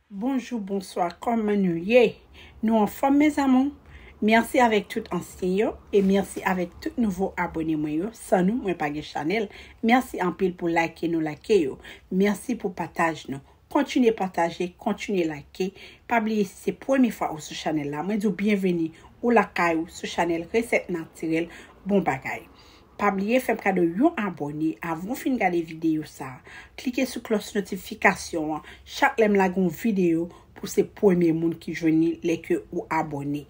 Bonjou bonswa kòman nou ye nou anfòm mes amour merci avèk tout ansyen yo e merci avèk tout nouvo abone mwen yo san nou mwen pa gen chanèl merci anpil pou like nou like yo merci pou pataj nou kontinye pataje kontinye like pa bliye si se premye fwa ou sou chanèl la mwen di w byenveni ou lakay ou sou chanèl resèt natirèl bon bagay Pa bliye fèm kado yon abòne avan w fin gade videyo sa Klike sou klòch notifikasyon an chak lèm lage yon videyo pou se premye moun ki jwenn li lè ke ou abòne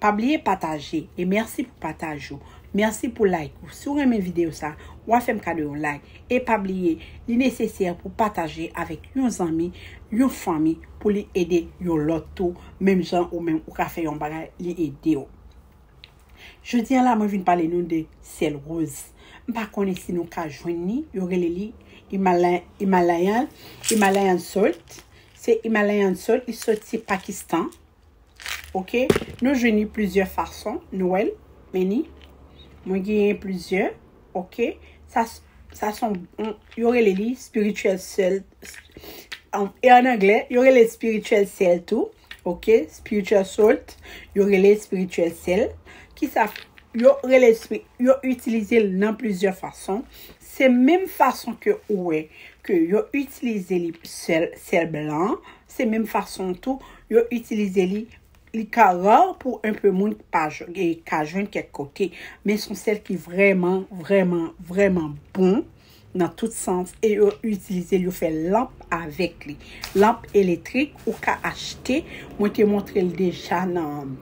Pa bliye pataje e mèsi pou pataj ou Mèsi pou like ou Si w renmen videyo sa wa fèm kado yon like e pa bliye li nesesè pou pataje avèk yon zanmi yon fanmi pou li ede yon lòt tou menm jan ou menm ou ka fè yon bagay li ede w. Jodi a la mwen vin pale nou de syèl roz. M pa konnen si nou ka jwenn li, yo rele li Himalayan, Himalayan salt. Se Himalayan salt, li soti Pakistan. Ok, nou jwenn li plizyè fason, nou wè l, men ni. Mwen genyen plizyè, ok. Sa, sa son, yo rele li spiritual salt. E an anglè, yo rele spiritual salt tou. Ok spiritual salt yo rele spiritual sel kisa yo rele yo itilize l nan plizyè fason se menm fason ke ou wè ke yo itilize li sel sel blan se menm fason tou yo itilize li li ka rar pou un peu moun pa ka jwenn kèk kote men son sel ki vrèman vrèman vrèman bon nan tout sans e yo itilize l yo fè lanp avèk li lanp eletrik ou ka achte mwen te montre l deja nan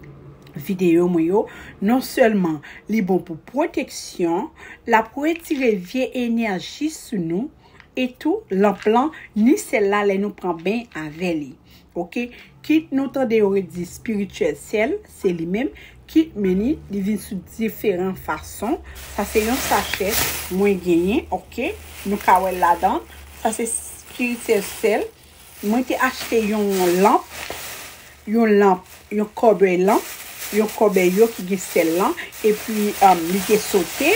videyo mwen yo non sèlman li bon pou pwoteksyon l ap retire vye enèji sou nou e tou lanp lan ni sèl la lè nou pran beny avè li. Ok kit nou tande yo ret di spirituel sèl se li menm kit many li vin sou diferan fason sa se yon sachè mwen genyen ok nou ka wèl ladan sa se spirituel sèl mwen te achte yon lanp yon lanp yon kòbèy lanp yon kòbèy yo ki gen sèl lan epi li te sote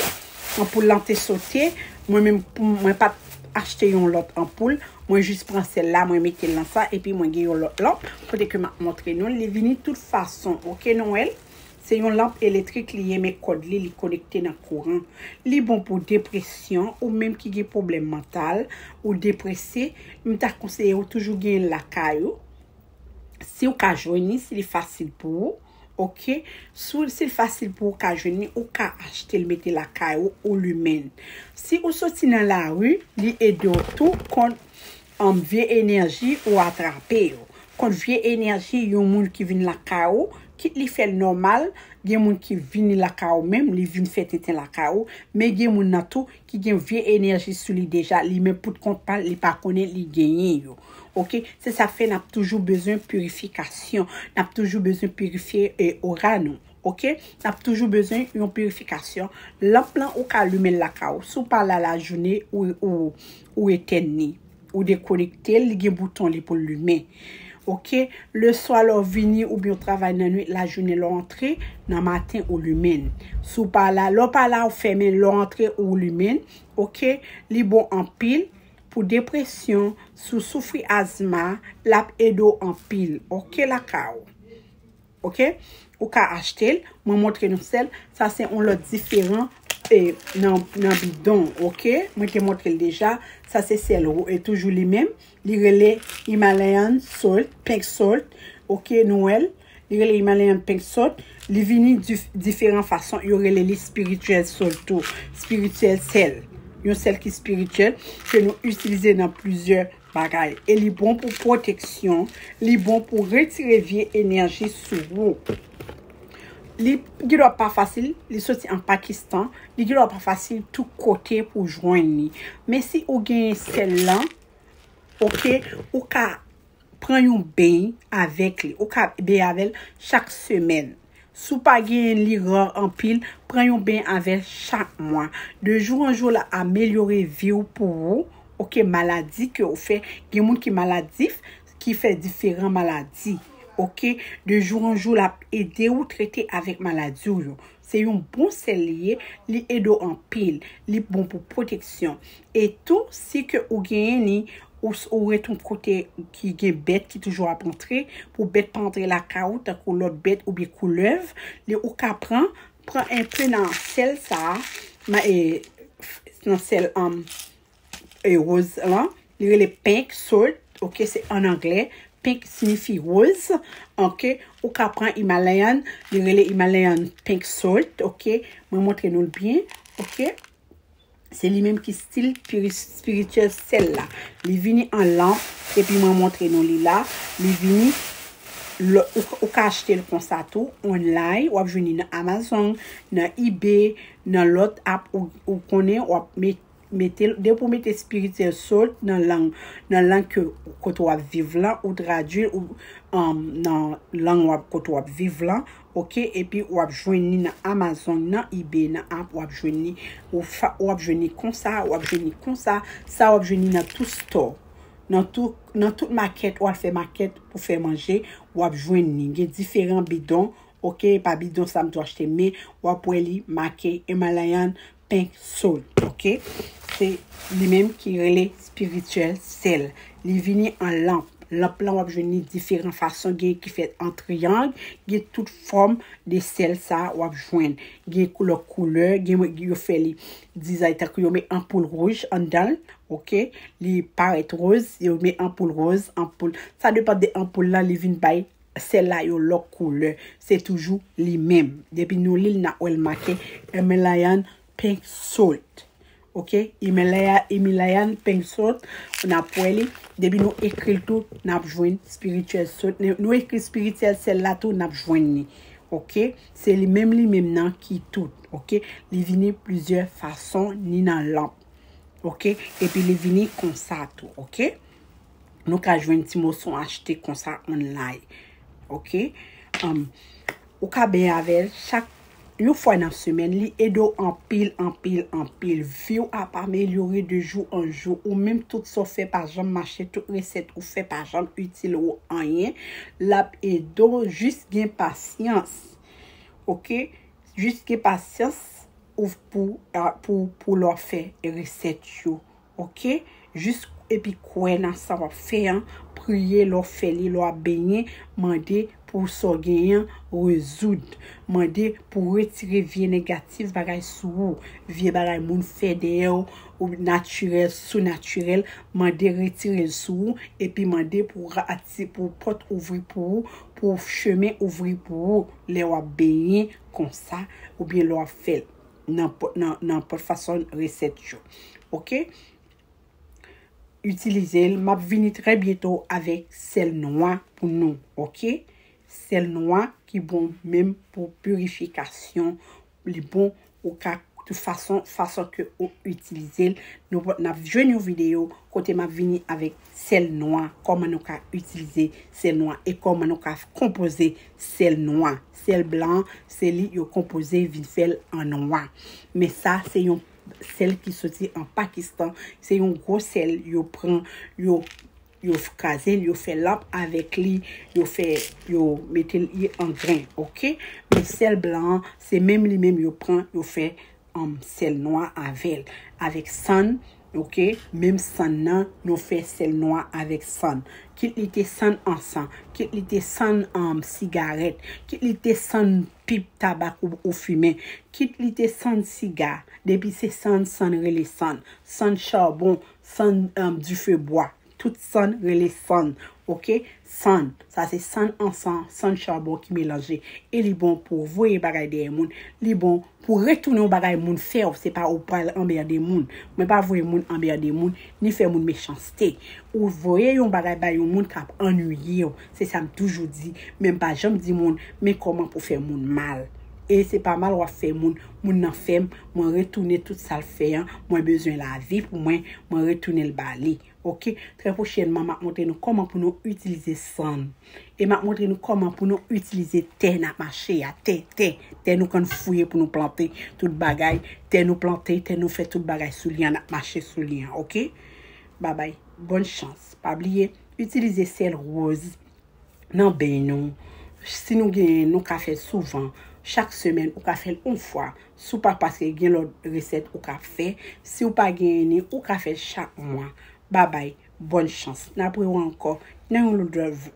anpoul lan te sote mwen menm mwen pat achte yon lòt anpoul, mwen jis pran sèl la mwen metel nan sa epi mwen gen yon lòt lanp kote ke map montre nou li vini tout fason ok nou wèl se yon lanp eletrik li ye men kòd li li konekte nan kouran li bon pou depresyon ou menm ki gen pwoblèm mantal ou deprese m ta konseye ou toujou genyen lakay ou siw ka jwenn li si li fasil pou ou. Ok si l fasil pou ou ka jwenn li ou ka achte l mete lakay ou ou limen l si ou soti nan lari li ede w tou kont vye enèji ou atrape yo kont vye enèji yon moun ki vin lakay ou kit li fè l nòmal gen moun ki vini lakay ou menm li vin fè tenten lakay ou men gen moun nan tou ki gen vye enèji sou li deja li menm pout kont pal li pa konnen li genyen yo ok se sa fè nap toujou bezwen pirifikasyon nap toujou bezwen pirifye ora nou ok nap toujou bezwen yon pirifikasyon lanp lan ou ka limenl lakay ou si w pa la lajounen ou etèn li. Ou dekonektel li gen bouton li poul limen ok le swa lè w vini oubyen w travay nan nwit la jounen lè w antre nan maten ou limen l si w pa la lè w pa la ou fèmen l lè w antre ou limen l ok li bon anpil pou depresyon si w soufri azma lap ede w anpil ok lakay ou. Ok ou ka achtel mwen montre nou sèl sa se yon lòt diferan e nan bidon ok mwen te montrel deja sa se sèl e toujou li menm li rele Himalayan salt pink salt ok nou wèl li rele Himalayan pink salt li vini diferan fason yo rele li spirituel salt tou spirituel sèl yon sèl ki spirituel ke nou itilize nan plizyè Bagay e li bon pou pwoteksyon, li bon pou retire vye enèji sou ou. Li gen dwa pa fasil, li soti an Pakistan, li gen dwa pa fasil tout kote pou jwenn li. Men si ou genyen sèl lan, ok, ou ka pran yon beny avèk li, ou ka beny avèl chak semèn. Si w pa genyen li rar anpil, pran yon ben avèl chak mwa. De jou an jou lap amelyore viw pou ou ok maladi ke ou fè gen moun ki maladif ki fè diferan maladi ok de jou an jou lap ede ou trete avèk maladi w yo se yon bon sèl li ye li ede w anpil li bon pou pwoteksyon E tou si ke ou genyen li ou ret yon kote ki gen bèt ki toujou ap antre pou bèt pa antre lakay ou tankou lòt bèt oubyen koulèv li ou ka pran pran enpe nan sèl sa nan sèl roz lan li rele pink salt ok se an anglè pink sinifi roz ok ou ka pran imalayan li rele imalayan pink salt ok mwen montre nou l byen ok. Se li menm ki stil spirituel sel la. Li vini an lanp epi mwen montre nou li la. Li vini ou ka achte l konsa tou online. Wap jwenn li nan Amazon, nan ebay, nan lot app ou konnen wap mete l. Depi ou mete spirituel salt nan lang nan lang ke kote wap viv lan ou tradui l nan lang kote wap viv lan ok epi wap jwenn li nan amazon nan ebay nan app wap jwenn li ou fa wap jwenn li konsa wap jwenn li konsa sa wap jwenn li nan tout store nan tou nan tout market wal fè market pou fè manje wap jwenn li gen diferan bidon ok epa bidon sa m tou achte men wap wè li make Himalayan pink soul ok se li menm ki rele spirituel sel li vini an lanp lanp lan wap jwenn ni diferan fason gen ki fèt an triyang gen tout fòm de sel sa wap jwenn gen lòt koulè gen yo fè li dizay tankou yo met anpoul rouj andanl ok li parèt roz yo met anpoul roz anpoul sa depan de anpoul lan li vin bay Sèl la yon lòk koulè. Se toujou li menm. Depi nou li l na wè l make Himalayan pink salt. Ok. Himalayan pink salt. Ou na p wè li. Depi nou ekri l tou na p jwenn spiritual salt. Nou ekri spiritual sèl la tou na p jwenn li. Ok. Se li menm li menm nan ki tout. Ok. Li vini plizyè fason ni nan lanp. Ok. Epi li vini konsa tou. Ok. Nou ka jwenn ti moson achte konsa online. Ok. Ou ka ben avèl chak yon fwa nan semen. Li edo anpil, anpil, anpil. Viw ap amelyore de jou an jou. Ou menm tout sa w fè pa janm mache. Tout resèt ou fè pa janm itil ou anyen. Lap edo jis gen pasyans. Ok. Jis gen pasyans pou lò fè resèt yo. Ok jis epi kwè nan sa wap fè an priye lè w fè li lè w ap benyen mande pou sa w genyen an rezoud mande pou retire vye negatif bagay sou ou vye bagay moun fè dèyè w ou natirèl sou natirèl mande retire l sou ou epi mande pou ati pou pòt ouvri pou ou pou chemen ouvri pou ou lè wap benyen konsa oubyen lè wap fè l. nan pot fason resèt yo ok itilizel map vini trè byento avèk sèl nwa pou nou ok sèl nwa ki bon menm pou pirifikasyon li bon ou ka tout fason fason ke ou itilizel nou pot nap jwenn yon video kote map vini avèk sèl nwa, kòman nou ka itilize sèl nwa e kòman nou ka konpoze sèl nwa. Sèl blan an, se li yo konpoze vin fè l an nwa. Men sa se yon sèl ki soti an Pakistan. Se yon gwo sèl yo pran, yo yo kraze l, yo fè lanp avèk li, yo fè, yo mete li an gren, ok. Men sèl blan an, se menm li menm yo pran, yo fè Anm sèl nwa avèl avèk sann ok menm sann nan nou fè sèl nwa avèk sann kit li te sann ansan kit li te sann anm sigarèt kit li te sann pip tabak ou fimen kit li te sann siga depi se sann sann rele sann sann charbon sann anm dife bwa Tout sann rele sann ok. Sann sa se sann ansan, sann chabon ki melanje e li bon pou w voye bagay dèyè moun, li bon pou w retounen yon bagay moun fè w, se pa ou pral anmerde moun. Mwen pa voye moun anmerde moun, ni fè moun mechanste. Ou voye yon bagay bay yon moun k ap annwiye w, se sa m toujou di, men m pa janm di moun men kòman pou w fè moun mal. E se pa mal w ap fè moun, moun nan fè m. Mwen retounen tout sal fè an, mwen bezwen lavi pou mwen, mwen retounen l ba li. Ok, trè pwochènman map montre nou kòman pou nou itilize sann. E map montre nou kòman pou nou itilize tè nap mache a, tè, tè, tè nou konn fouye pou nou plante tout bagay, tè nou plante, tè nou fè tout bagay sou li an, nap mache sou li an, ok. Babay, bòn chans. Pa bliye, itilize sèl woz, nan beny nou, si nou genyen nou ka fèl souvan, chak semèn ou ka fèl yon fwa, si w pa paske gen lòt resèt ou ka fè, si w pa genyen ni ou ka fèl chak mwa. Babay, bòn chans. N ap wè w ankò nan yon lòt